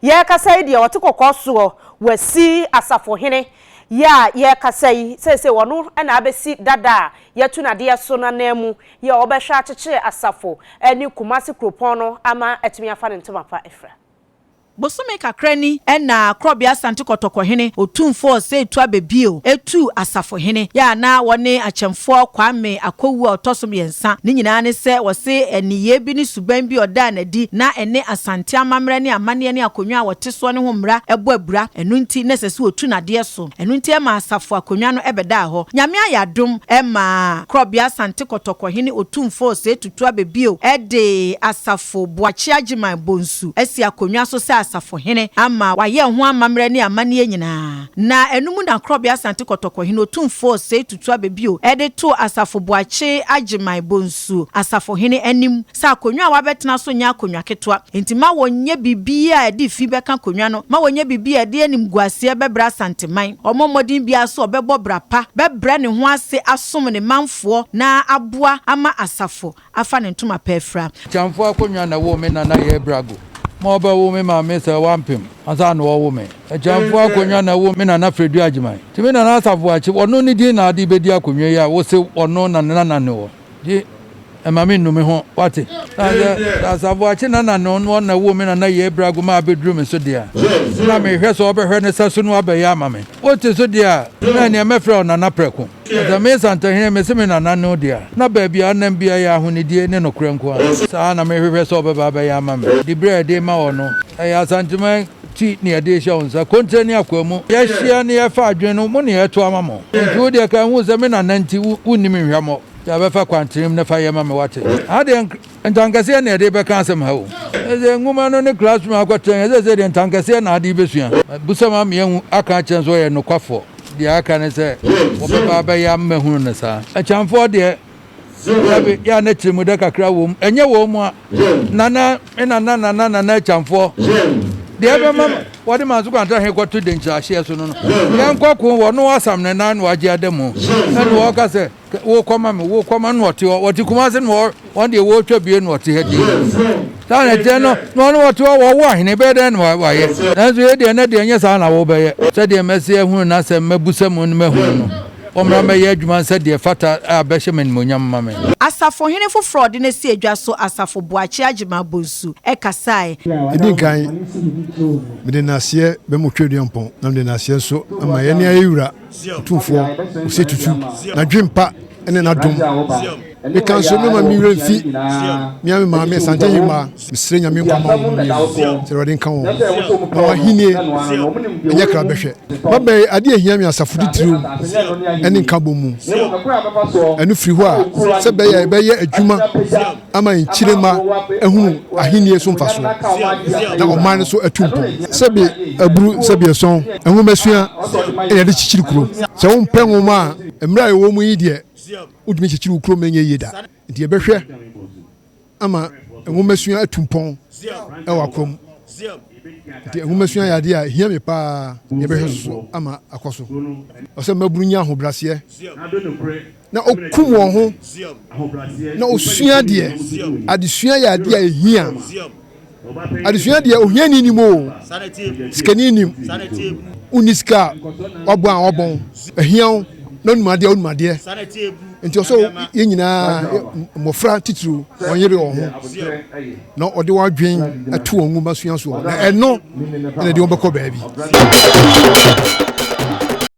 Yɛrekasa yi deɛ ɔte kɔkɔɔ soɔ wasi asafohene yɛ a yɛrekasa yi seesei ɔno na abɛsi dada a yɛatu no adeɛ so no ananmu yɛ a ɔbɛhwɛ akyekyere asafo ne Kumasi kuropɔn no ama atumi afa ne ntoma pa afira. Bosome kakra ni na Korɔbea Asante Kɔtɔkɔhene Otumfoɔ Osei Tuah Bebio tuu asafohene yɛ a na ɔne Akyɛmfoɔ Kwame Akowu a ɔtɔ so mmiɛnsa, ne nyinaa ne sɛ wɔse nneyɛɛ bi ne su, suban bi a ɔdaa no adi na ɛne Asante amammerɛ ne amanneɛ ne akonnwa a wɔte soɔ no ho mmara bɔ abira, ɛno nti na ɛsɛ sɛ wɔtu no adeɛ so. Ɛno nti ɛmaa asafo akonnwa no bɛdaa hɔ. Nyame ayɛ adom ɛmaa Korɔbea Asante Kɔtɔkɔ hene Otumfoɔ Osei Tutu Abɛbio de Asafo Boakye Agyeman Bonsu asi akonnwa so sɛ asafo hene ama wayɛ ɛho amammerɛ ne amanneɛ nyinaa. Na ɛno mu na Korɔbea Asante Kɔtɔkɔ hene Otumfoɔ Osei Tutu Abɛbio de too Asafo Boakye Agyeman Bonsu. Yesu asafohene anim sɛ akonnwa a wabɛtena so nyɛ akonnwa ketewa. Enti ma wɔnyɛ biribi a ɛde fi bɛka akonnwa no. Ma wɔnyɛ biribi a ɛde animguaseɛ bɛbrɛ Asanteman. Ɔmmɔ mmɔden biara sɛ ɔbɛbɔ bra pa, bɛbrɛ ne ho ase asom ne manfoɔ na aboa ama asafo afa ne ntoma pa afira. Kyamfo akonnwa na ɛwoo me nana Yɛɛ Brago ma ɔbɛwo me maame sɛ wampem ansa na ɔrewo me. Agyamfo akonwa na ɛwo me nana Fredu Agyeman. Nti me nana Asaf Boakye, wɔno ne din na ade bɛdi akonwa yi a wose wɔno na ne nana ne wɔ. Nti mma me nnu me ho, wate. Na sɛ Asaf Boakye nana ne ɔno na ɛwoo me nana Yei Brago ma abɛduru me so deɛ a, na merehwɛ sɛ ɔbɛhwɛ ne sa so no abɛyɛ ama me. Wote so deɛ a, na ɛneɛ mɛfrɛ wo Nana Prɛko. Na sɛ me Nsantahene mese me nana ne wo deɛ a, na baabi a nam biara yɛ ahonidie ne nokorɛ nko ara. Saa na merehwehwɛ sɛ ɔbɛba abɛyɛ ama me. Diberɛ a ɛde rema wɔ no, ɛyɛ Asanteman. ti ne yɛde rehyɛ wo nsa, kontire ne akoa mu. Yɛahyia ne yɛrefa adwene no mu ne yɛreto ama mo. Enti wo deɛ, ka nhu sɛ me nana nti wo, wonnim me hwammɔ. Gya bɛfa kwantenem na fa yɛ ma me wate. Ha deɛ ntankɛseɛ na yɛde rebɛka asɛm ha o. Ɛsɛ nwoma no ne classroom akɔtɛn, ɛsɛ sɛ deɛ ntankɛseɛ na ade rebɛsua. Bisa ma meahu aka akyerɛ no sɛ ɔyɛ nokwafoɔ. Deɛ aka ne sɛ wɔbɛba abɛyɛ ama mahunu no saa. Akyamfoɔ deɛ. Dabi, yɛ a na tirimu dɛ kakra wɔ mu. Ɛnyɛ wɔn mua. Nana me nana nana nana Akyamfoɔ. Deɛ ɛbɛma wɔde Manso Kwantɛ he kɔto denkyirahyeɛ so no no, yɛnkɔ ko wɔ no asam ne nan na wagye ada mu. Ɛne wɔɔka sɛ, Wo kɔma me, wo kɔma no ɔte hɔ. Wɔte Kumase na wɔn deɛ wɔɔtwa bie na ɔte ha din. Saa na ɛteɛ no, na ɔne wɔte hɔ wɔwo ahene bɛyɛ dɛn na wayɛ. Nanso yei deɛ, ɛnɛ deɛ nyɛ saa na wobɛyɛ. Sɛdeɛ mɛse ahunu no asɛm, mɛbusa mu ne mahunu no. Wɔmmra mmɛyɛ adwuma nsɛ deɛ ɛfata a ɛbɛhyɛ me animuonyam ma me. Asafohene foforɔ a ɔde no asi adwa so, Asafo Boakye Agyemang Bonsu, kasae. Ɛdi nkan, mede nnaseɛ bɛma Otwa Aduampɔn na mede nnaseɛ nso ama yɛne Ayɛwura Otumfoɔ Osei Tutu, n'adwempa ne n'adom. Meka nso mɛma me werɛ mfi me ara me maame Asante Nyirima. Mesrɛ Nyame nkwa mma wɔn mmienu. Sɛ Awurade nka wɔn ho na wɔn ahennie nyɛ krabɛhwɛ. M'aba yi, adeɛ a ɛhia me asafo titiriw ne nkabom mu. Ɛno firi hɔ a, sɛ ɛbɛyɛ a yɛbɛyɛ adwuma ama yɛn kyiremma ahunu ahennie so mfasoɔ na ɔman no nso atu mpɔn. Sɛbe aburu, sɛbe ɛsɔn, nwomasua na yɛde kyekyere kuro. Sɛ wompɛ nwoma a, mmerɛ a yɛwɔ mu yi deɛ, wontumi nkyekyere wo kurom nyɛ yie da. Nti yɛbɛhwɛ ama nwomasua atu mpɔn wɔ akɔ mu. Nti nwomasua yɛ adeɛ a ɛhia me paa, yɛbɛhwɛ so so ama akɔ so. Ɔsɛ mmabunu nya ahobraseɛ na ɔkum wɔn ho na ɔsua adeɛ. Adesua yɛ adeɛ a ɛhia. adesua deɛ ohiani nim o sikani nim wonni sika a wabɔ a wɔbɔn ahia wo na onim adeɛ onim adeɛ nti ɔsɛ yɛn nyinaa mmɔfra titiriw wɔn yere wɔn ho na ɔde wɔn adwen ato wɔn nwoma sua soɔ na ɛno ɛna ɛde wɔn bɛkɔ baabi